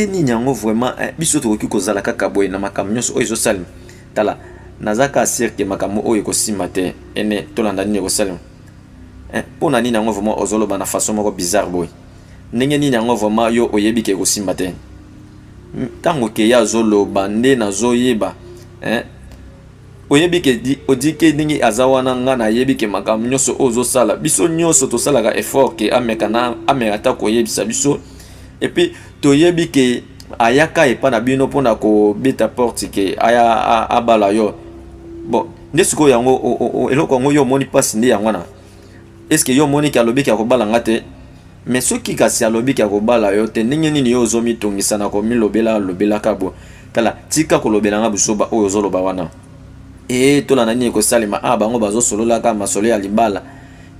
ndenge nini yango vraiment eh, biso tokoki kozala kaka boye na makambo nyonso oyo ezosalema tala naza kaka sire ke makambo oyo ekosimba te ene tolanda nini ekosalema eh, mpo na nini yango vraiment ozoloba na façon moko bizarre boye ndenge nini yango vraiment yo oyebi ke ekosimba te ntango keya azoloba nde nazoyeba eh, oyebi ke odike ndenge aza wana nga nayebi ke makambo nyonso oyo ozosala biso nyonso tosalaka effort ke ameka na ameka ata koyebisa biso epuis toyebi ke ayaka epa na bino mpona kobeta porte ke aya abala yo bon nde sikoyo yango eloko yango yo omoni mpasi nde yango wana est ce que yo omoni ke alobi ke akobala nga te me soki kasi alobi ke akobala yo te ndenge nini yo ozomitungisa na komilobela lobelaka bo tala tika kolobela nga buzoba oyo ozoloba wana ee tolanda nini ekosalema a ah, bango bazosololaka masolo ya libala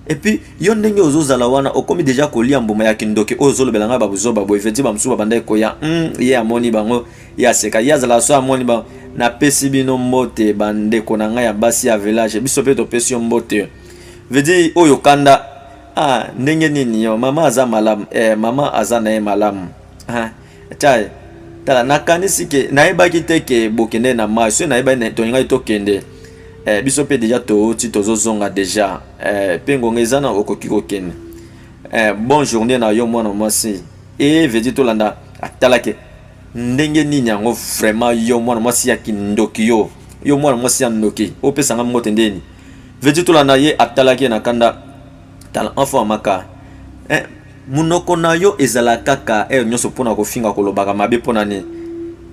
epuis yo ndenge ozozala wana okomi deja kolia mbuma ya kindoki oyo ozolobela ngai babuzoba boye feti bamosusu babandaki koya mm, ye amoni bango ye aseka ye azalaka so amoni bango napesi bino mbote bandeko na ngai ya basi ya village biso mpe topesi yo mbote veut dire oyo kanda ah ndenge nini yo mama aza malamu eh mama aza na ye malamu ah tya tala nakanisi ke nayebaki te ke bokende na mai soki nayebaki tolingaki tokende eh, biso mpe deja touti tozozonga deja eh, mpe ngonga eza na okoki kokende eh, bon journée na yo mwana mwasi e vedi tolanda atalake ndenge nini yango vraiment yo mwana mwasi ya kindoki yo yo mwana mwasi ya ndoki opesanga mbote ndeni Veti tolanda ye atalaki ye na kanda tala enfant amaka eh, munoko na yo ezala kaka heure eh, nyonso mpona kofinga kolobaka mabe mpona nini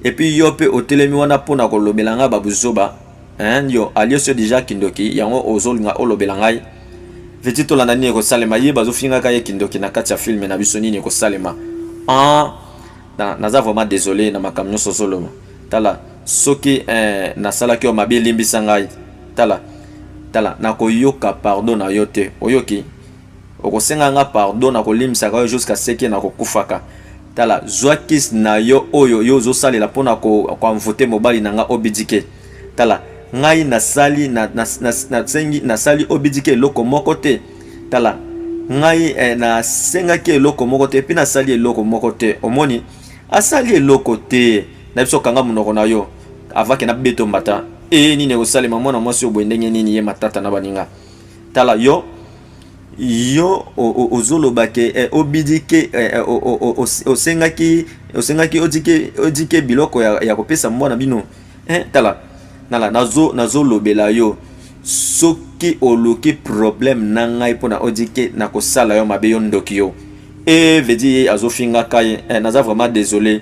epuis yo mpe otelemi wana mpona kolobela ngai babuzoba eh, yo alios yo deja kindoki yango ozolinga olobela ngai veti tolanda nini ekosalema ye bazofingaka ye kindoki na kati ya filme na biso nini ekosalema ah, Na, naza vraiment desole na makambo nyonso ozoloba. Tala, soki eh, nasalaki yo mabe, limbisa ngai. Tala, tala, nakoyoka pardon na yo te. Oyoki? Okosenga nga pardon, nakolimbisaka yo jusqu'à ce que nakokufaka. Tala, zwa kiss na yo oyo yo ozosalela mpo na koenvoute ko mobali na nga obidike. Tala, ngai nasali, na, na, na, nasengi, nasali obidike eloko moko te. tala ngai eh, nasengaki eloko moko te epi nasali eloko moko te omoni asali eloko te na biso kanga monoko na yo avake na beto mbata e nini ekosalema mwana mwasi oyo boye ndenge nini ye matata na baninga tala yo yo ozoloba ke eh, obidi ke eh, eh, osengaki osengaki odike odike biloko ya, ya kopesa mwana bino eh, tala nala nazo nazolobela yo soki oluki problème na ngai mpona odi ke nakosala yo mabe yo ndoki yo e eh, vedi ye azofingaka ye eh, naza vraiment désolé